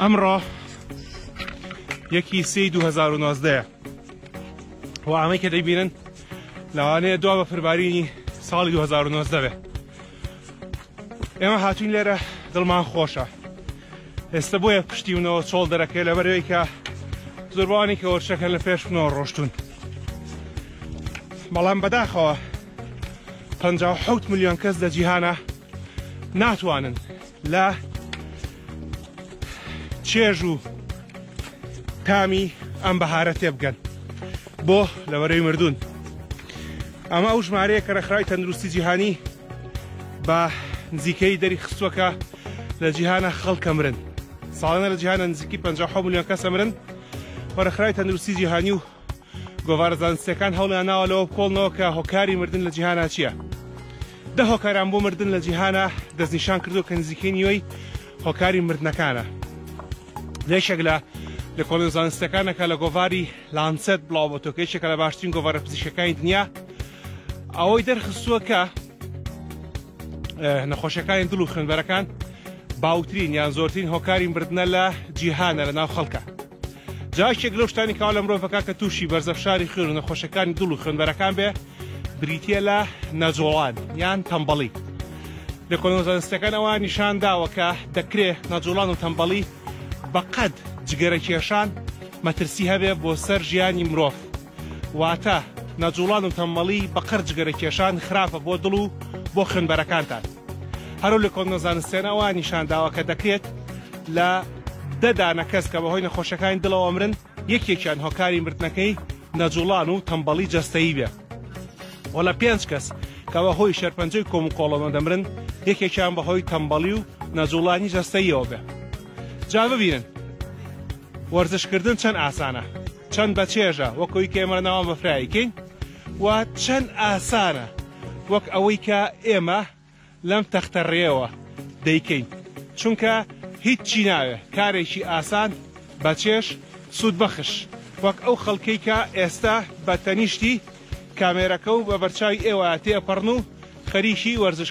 ئەمڕۆ یەکی سی 2019 و ئامەی کە دەیبینن لەوانەیە دوا بە فربارینی ساڵی 2019 بێ ئێمە هاتوین لێرە دڵمان خۆشە ئێستا بۆیە پشتی منەوە چۆڵ دەرەکەی لە بەرەوەی کە زۆربانی کە وەرچەکە لە پێش منەوە ڕۆشتون بەڵام بەداخەوە 5 میلیۆن کەس لە جیهانە ناتوانن لە چێژ و تامی ئەم بەهارە تێبگەن بۆ لەوەرەی مردوون ئەمە ئەو ژمارەیە کە ڕێکخراوی تەندروستی جیهانی بە نزیکەی دەری خستوەکە لە جیهانە خەڵکە مرن ساڵانە لە جیهانە نزیکی 50 میلیۆن کەسە مرن وەرەخراوی تەندروستی جیهانی و گۆڤارە زانستیەکان هەوڵیانناوە لەوە بکۆڵنەوە کە هۆکاری مردن لە جیهانا چییە. دە هۆکاریان بۆ مردن لە جیهانا دەستنیشان کردو کە نزیکەی نیوەی هۆکاری مردنەکانە. لەشێک لە لە کۆڵێن زانستەکانەکە لە گۆڤاری لانسەت بڵاو بۆ تۆکە یەکێکە لە باشترین گۆڤارە پزیشکەکانی دنیا ئەوەی دەرخستووە کە نەخۆشەکانی دڵ و خوێنبەرەکان باوترین یان زۆرترین هۆکاری مردە لە جیهانە لە ناو خەڵکە. جا یەکێک لەو شتانی کاوا لە مرۆڤەکە کە تووشی بەرزە فشاری خوێن و نەخۆشەکانی دڵ و خوێنبەرەکان بێ بریتە لە نەجۆڵان یان تەمبەڵی لە کۆنۆزانستەکان ئەوە نیشان داوە کە دەکرێ نەجۆڵان و تەمبەڵی بەقەد جگەرە کێشان مەترسی هەبێ بۆ سەر ژیانی مرۆڤ واتە نەجوڵان و تەمەڵی بەقەر جگەرە کێشان خراپە بۆ دڵ و بۆ خوێنبەرەکانتان. هەرو لە کۆنە زانستیانە ئەوە نیشان داوە کە دەکرێت لە دە دانە کەس کە بەهۆی نەخۆشەکانی دڵەوە مرن یەکێکیان هۆکاری مردنەکەی نەجوڵان و تەمبەڵی جەستەیی بێ و لە پێنج کەس کە بەهۆی شێرپەنجەی کۆم و کۆڵەمە دەمرن یەکێکیان بەهۆی تەمبەڵی و نەجوڵانی جەستەیەوە بێ جا ببینن وەرزشکردن چەند ئاسانە. چەند بە چێژە وەک ئەوی کە ئێمە لە ناوان بەفرایی کەین و چەند ئاسانە وەک ئەوەی کە ئێمە لەم تەختە ڕێەوە دەیکەین چونکە هیچ چی ناوێ کارێکی ئاسان بە چێش سوود بەخش وەک ئەو خەڵکەی کە ئێستا بە تەنیشتی کامێرەکە و بە بەرچاوی ئێوە تێپەڕن و خەریکی وەرزش